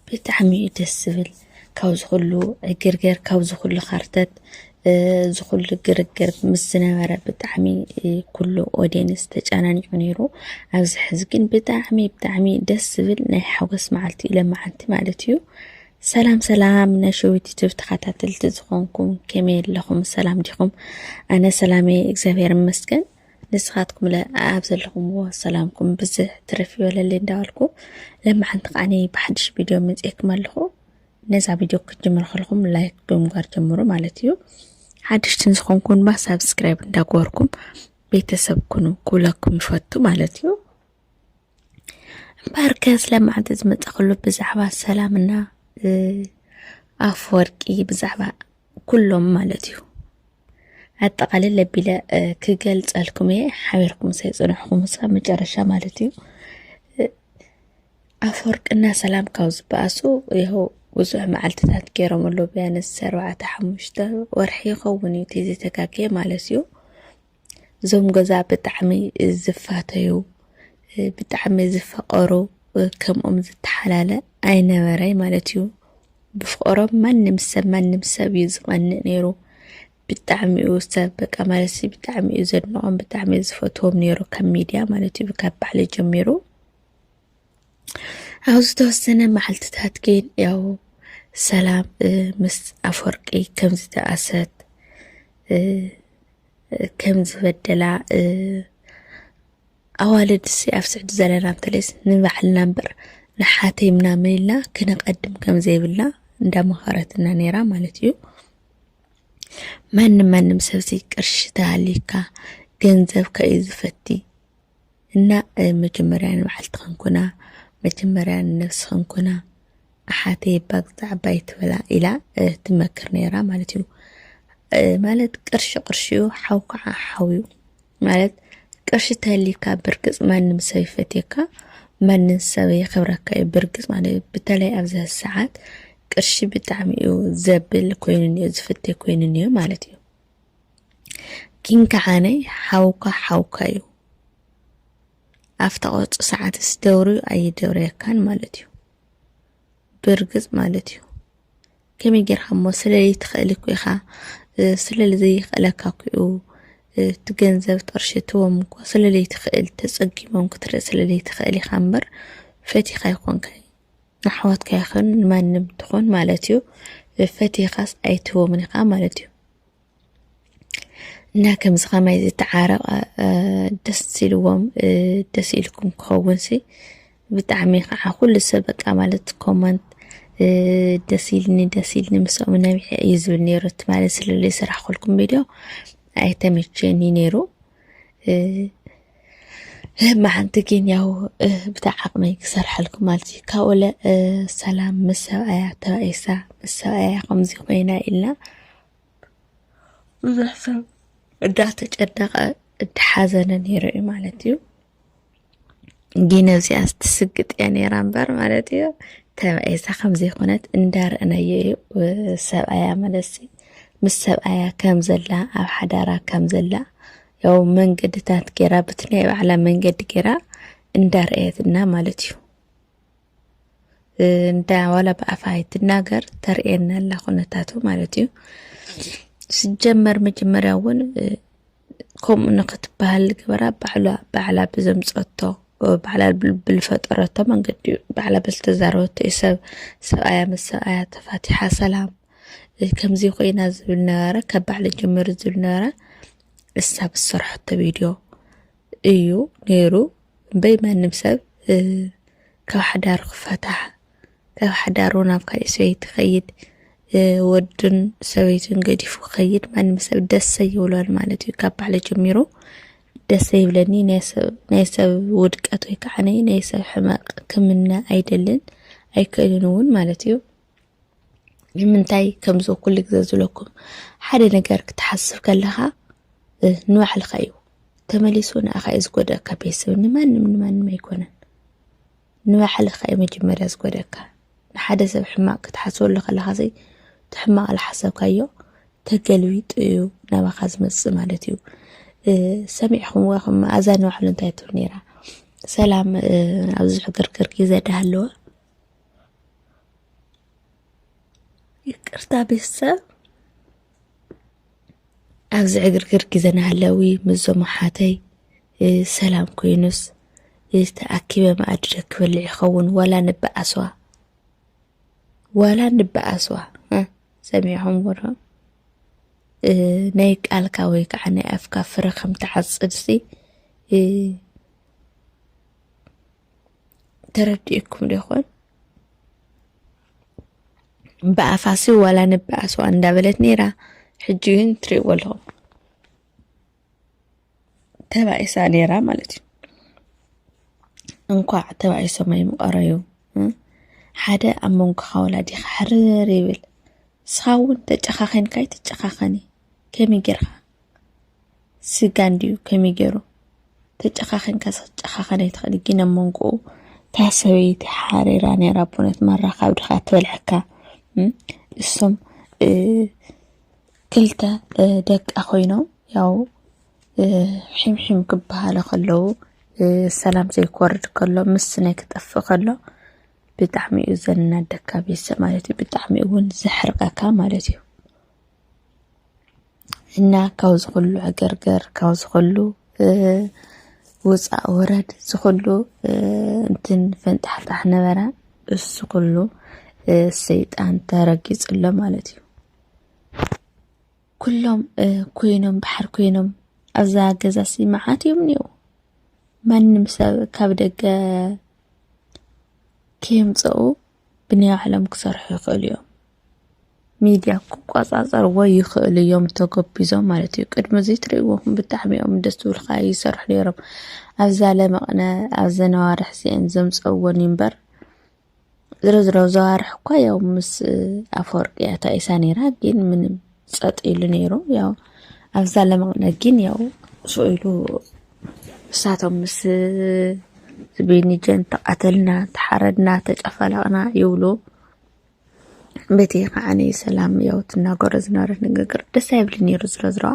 ብጣዕሚ እዩ ደስ ዝብል ካብዚ ኩሉ ዕግርገር ካብዚ ኩሉ ኸርተት እዚ ኩሉ ግርግር ምስ ዝነበረ ብጣዕሚ ኩሉ ኦድየንስ ተጨናኒዑ ነይሩ ኣብዚ ሕዚ ግን ብጣዕሚ ብጣዕሚ ደስ ዝብል ናይ ሓጎስ መዓልቲ እዩ ለመዓንቲ ማለት እዩ ሰላም ሰላም ናይ ሸዊት ዩቱብ ተኸታተልቲ ዝኾንኩም ከመይ ኣለኹም ሰላም ዲኹም ኣነ ሰላመይ እግዚኣብሔር ይመስገን ንስኻትኩምለ ኣብ ዘለኹምዎ ሰላምኩም ብዝሕ ትርፍ ይበለለይ እንዳበልኩ ለማሓንቲ ከዓኒ ብሓድሽ ቪድዮ መፅኤኩም ኣለኹ ነዛ ቪድዮ ክትጅምሩ ከለኹም ላይክ ብምግባር ጀምሩ ማለት እዩ ሓድሽትን ዝኾንኩም ድማ ሳብስክራይብ እንዳገበርኩም ቤተሰብ ኩኑ ክብለኩም ይፈቱ ማለት እዩ እምበኣርከ ስለ መዓልቲ ዝመፀኸሉ ብዛዕባ ሰላምና ኣፈወርቂ ብዛዕባ ኩሎም ማለት እዩ ኣጠቃልል ለቢለ ክገልፀልኩም እየ ሓቢርኩም ሰይፅንሕኹም ስካብ መጨረሻ ማለት እዩ ኣፈወርቅና ሰላም ካብ ዝበኣሱ ይኸው ብዙሕ መዓልትታት ገይሮም ኣሎ ቢያንስ ኣርባዕተ ሓሙሽተ ወርሒ ይኸውን እዩ ተዘይተጋገየ ማለት እዩ እዞም ገዛ ብጣዕሚ ዝፋተዩ ብጣዕሚ ዝፈቐሩ ከምኦም ዝተሓላለ ኣይነበረይ ማለት እዩ። ብፍቕሮም ማንም ሰብ ማንም ሰብ እዩ ዝቐንእ ነይሩ። ብጣዕሚ እዩ ሰብ በቃ ማለት ሲ ብጣዕሚ እዩ ዘድንቖም ብጣዕሚ እዩ ዝፈትዎም ነይሩ ካብ ሚድያ ማለት እዩ ካብ ባዕሊ ጀሚሩ ኣብ ዝተወሰነ መዓልትታት ግን ያው ሰላም ምስ ኣፈወርቂ ከም ዝተኣሰት ከም ዝበደላ ኣዋልድ ሲ ኣብ ስዕዲ ዘለና እንተለይስ ንባዕልና እምበር ንሓተይ ምናምን ኢልና ክነቐድም ከም ዘይብልና እንዳመኸረትና ነይራ ማለት እዩ። ማንም ማንም ሰብዚ ቅርሺ ተሃልዩካ ገንዘብካ እዩ ዝፈቲ እና መጀመርያ ንባዕልትኽን ኩና መጀመርያ ንነብስኽን ኩና ኣሓተይ እባ ግዛዕባ ይትበላ ኢላ ትመክር ነይራ ማለት እዩ ማለት ቅርሺ ቅርሺ እዩ ሓው ከዓ ሓው እዩ ማለት ቅርሺ ተህሊካ ብርግፅ ማንም ሰብ ይፈትየካ ማንም ሰብ የኽብረካ እዩ ብርግፅ ማለት እዩ በተለይ ኣብዚ ሰዓት ቅርሺ ብጣዕሚ እዩ ዘብል ኮይኑን እዩ ዝፍቴ ኮይኑን እዩ ማለት እዩ ግን ከዓነ ሓውካ ሓውካ እዩ ኣብታ ቆርፂ ሰዓትስ ደውርዩ ኣይደውርየካን ማለት እዩ ብርግፅ ማለት እዩ ከመይ ጌርካ እሞ ስለይ ትኽእል እኮ ኢኻ ስለሊ ዘይኽእለካ ኩኡ እቲ ገንዘብ ጥርሺ እትዎም እኮ ስለለይ ትኽእል ተፀጊሞም ክትርኢ ስለለይ ትኽእል ኢኻ እምበር ፈቲኻ ኣይኮንካይ ንኣሕዋትካ ይኹን ንማንም ትኹን ማለት እዩ ፈቲኻስ ኣይትህቦምን ኢኻ ማለት እዩ እና ከምዚ ከማይ ዝተዓረቐ ደስ ኢልዎም ደስ ኢልኩም ክኸውን ሲ ብጣዕሚ ከዓ ኩሉ ሰብ በቃ ማለት ኮመንት ደስ ኢልኒ ደስ ኢልኒ ምስኦም ነቢሐ እዩ ዝብል ነይሩ እቲ ማለት ስለለይ ስራሕ ኮልኩም ቪድዮ ኣይተመቸየኒ ነይሩ መዓንቲ ግን ያው ብታ ዓቕመይ ክሰርሐልኩም ማለት እዩ ካብ ወለ ሰላም ምስ ሰብኣያ ተባኢሳ ምስ ሰብኣያ ከምዚ ኮይና ኢልና ብዙሕ ሰብ እንዳተጨነቐ እንዳሓዘነ ነይሩ እዩ ማለት እዩ ግን እዚኣ ስትስግጥ እያ ነይራ እምበር ማለት እዩ ተባኢሳ ከምዚ ኮነት እንዳርእነዮ እዩ ሰብኣያ መለሲ ምስ ሰብኣያ ከም ዘላ ኣብ ሓዳራ ከም ዘላ ያው መንገድታት ጌራ ብቲ ናይ ባዕላ መንገዲ ጌራ እንዳርኣየትና ማለት እዩ እንዳ ዋላ ብኣፋ ኣይትናገር ተርእየና ኣላ ኩነታቱ ማለት እዩ ስጀመር መጀመርያ እውን ከምኡ ንክትበሃል ግበራ ባዕላ ባዕላ ብዘምፀቶ ባዕላ ብልፈጠረቶ መንገዲ እዩ ባዕላ ብዝተዛረበቶ እዩ ሰብ ሰብኣያ ምስ ሰብኣያ ተፋቲሓ ሰላም ከምዚ ኮይና ዝብል ነበረ ካብ ባዕለ ጀመሩ ዝብል ነበረ እሳ ብዝሰርሐቶ ቪድዮ እዩ ነይሩ እምበይ ማንም ሰብ ካብ ሓዳሩ ክፈታሕ ካብ ሓዳሩ ናብ ካልእ ሰበይቲ ይኸይድ ወድን ሰበይትን ገዲፉ ክኸይድ ማንም ሰብ ደሰ ይብሎን ማለት እዩ ካብ ባዕለ ጀሚሩ ደሰ ይብለኒ ናይ ሰብ ውድቀት ወይ ከዓ ናይ ሰብ ሕመቅ ክምነ ኣይደልን ኣይክእልን እውን ማለት እዩ ንምንታይ ከምዚ ኩሉ ግዜ ዝብለኩም ሓደ ነገር ክትሓስብ ከለኻ ንባዕልኻ እዩ ተመሊሱ ንኣኻ እዩ ዝጎደእካ ቤተሰብ ንማንም ንማንም ኣይኮነን ንባዕልኻ እዩ መጀመርያ ዝጎደእካ ንሓደ ሰብ ሕማቅ ክትሓስበሉ ከለኻ ዘይ እቲ ሕማቅ ዝሓሰብካዮ ተገልቢጡ እዩ ናባኻ ዝመፅእ ማለት እዩ ሰሚዕኹም ዋኹም ኣዛ ንባዕሉ እንታይ ትብል ነይራ ሰላም ኣብዚ ሕግርግር ግዜ ዳሃለወ ይቅርታ ቤተሰብ ኣብዚ ዕግርግር ግዜ ናሃለዊ ምስዞም ኣሓተይ ሰላም ኮይኑስ ተኣኪበ መኣዲ ዶ ክበልዕ ይኸውን ዋላ ንበኣስዋ ዋላ ንበኣስዋ ሰሚዕኹም ወዶ ናይ ቃልካ ወይ ከዓ ናይ ኣፍካ ፍረ ከም ትዓፅድሲ ተረዲኡኩም ዶ ይኾን? ብኣፋሲ ዋላ ንበኣስዋ እንዳበለት ነይራ። ሕጂ ግን ትሪእዎ ኣለኹም ተባኢሳ ነይራ ማለት እዩ። እንኳዕ ተባኢሶም ኣይምቐረዩ ሓደ ኣብ መንጎኻ ወላዲኻ ሕርር ይብል ንስኻ እውን ተጨኻኺንካ ኣይትጨኻኸኒ ከመይ ጌርካ ስጋ እንድዩ ከመይ ገይሩ ተጨኻኺንካ ክትጨኻኸን ኣይትኽእል ግን ኣብ መንጎኡ እታ ሰበይቲ ሓሪራ ነይራ ኣቦነት ማራ ካብ ድኻ ትበልዐካ እሶም ክልተ ደቃ ኮይኖም ያው ሒምሒም ክበሃለ ከለዉ ሰላም ዘይኮርድ ከሎ ምስ ናይ ክጠፍእ ከሎ ብጣዕሚ እዩ ዘናደካ ቤተሰብ ማለት እዩ ብጣዕሚ እውን ዘሕርቀካ ማለት እዩ እና ካብ ዝኹሉ ዕግርግር ካብ ዝኹሉ ውፃእ ወረድ ዝኹሉ እንትን ፈንጣሕጣሕ ነበረ እሱ ኩሉ ሰይጣን ተረጊፁ ኣሎ ማለት እዩ። ኩሎም ኮይኖም ባሕር ኮይኖም ኣብዛ ገዛ ሲ መዓት እዮም እኒው ማንም ሰብ ካብ ደገ ከየምፀኡ ብናይ ባዕሎም ክሰርሑ ይኽእሉ እዮም። ሚድያ ክቆፃፀርዎ ይኽእሉ እዮም ተጎቢዞም ማለት እዩ። ቅድሚ እዚ ትሪእዎም ብጣዕሚ እዮም ደስ ዝብሉኻ ይሰርሑ ነይሮም። ኣብዛ ለመቕነ ኣብዚ ነዋርሕ እዚአን ዘምፀእዎን እዩ እምበር ዝሮ ዝሮ ዘዋርሕ እኳ ያው ምስ ኣፈወርቂ እያ ተቂሳ ነይራ ግን ምንም ጸጥ ኢሉ ነይሩ ያው ኣብዛ ለመቕነ ግን ያው ሱቕ ኢሉ እሳቶም ምስ ዝቤኒጀን ተቓተልና ተሓረድና ተጨፈለቕና ይብሉ በቲ ከዓኒ ሰላም ያው ትናገሮ ዝነበረት ንግግር ደስ ኣይብልን ነይሩ ዝሮ ዝረዋ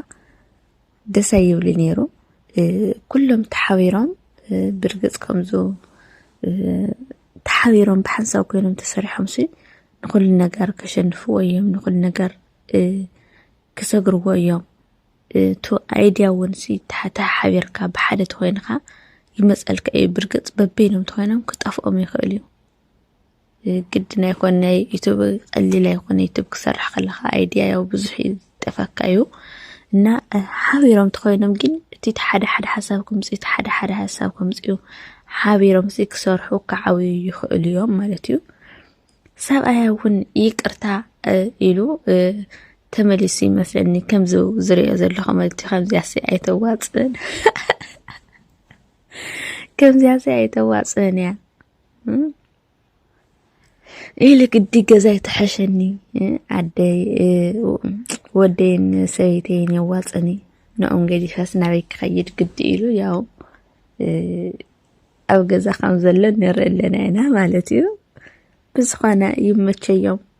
ደሰ ይብሉ ነይሩ ኩሎም ተሓቢሮም ብርግፅ ከምዙ ተሓቢሮም ብሓንሳብ ኮይኖም ተሰሪሖም ሲ ንኩሉ ነገር ከሸንፍዎ እዮም ንኩሉ ነገር ክሰግርዎ እዮም እቱ ኣይድያ እውን ሲ ተሓቢርካ ብሓደ ተኮይንካ ይመፀልካ እዩ ብርግፅ በበይኖም ተኮይኖም ክጠፍኦም ይኽእል እዩ ግድን ኣይኮን ናይ ዩቱብ ቀሊል ኣይኮነ ዩቱብ ክሰርሕ ከለካ ኣይድያ ያው ብዙሕ ይጠፈካ እዩ እና ሓቢሮም ተኮይኖም ግን እቲ ሓደ ሓደ ሓሳብ ክምፅ እቲ ሓደ ሓደ ሓሳብ ክምፅ እዩ ሓቢሮም ሲ ክሰርሑ ክዓብዩ ይኽእሉ እዮም ማለት እዩ ሰብኣያ እውን ይቅርታ ኢሉ ተመሊሱ ይመስለኒ ከምዚ ዝሪኦ ዘለኹ መልቲ ከምዚያሲ ኣይተዋፅእን ከምዚያሲ ኣይተዋፅእን እያ ኢሊ ግዲ ገዛ ይተሐሸኒ ዓደይ ወደይን ሰበይተይን የዋፅኒ ንኦም ገዲፈስ ናበይ ክኸይድ ግዲ ኢሉ ያው ኣብ ገዛ ከም ዘሎ ንርኢ ኣለና ኢና ማለት እዩ። ብዝኾነ ይመቸዮም።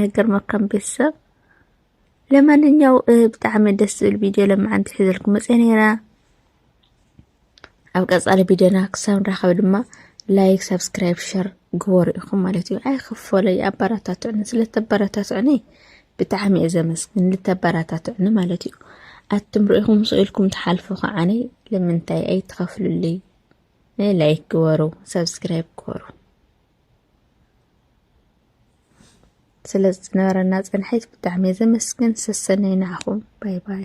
ነገር መካም ቤተሰብ ለማንኛው ብጣዕሚ ደስ ዝብል ቪድዮ ለማዓንቲ ሒዘልኩም መፅአ ነይራ ኣብ ቀፃሊ ቪድዮና ክሳብ ንራኸብ ድማ ላይክ ሳብስክራይብ ሸር ግበሩ ኢኹም ማለት እዩ ኣይክፈለይ ኣበረታትዕኒ ስለተበረታትዕኒ ብጣዕሚ እየ ዘመስግን ልተበረታትዕኒ ማለት እዩ ኣትም ርኢኹም ስኢልኩም ትሓልፉ ከዓኒ ልምንታይ ኣይትኸፍሉልይ ላይክ ግበሩ ሳብስክራይብ ግበሩ ስለ ዝነበረና ፅንሒት ብጣዕሚ እየ ዘመስግን ሰሰነዩ ንዓኹም ባይ ባይ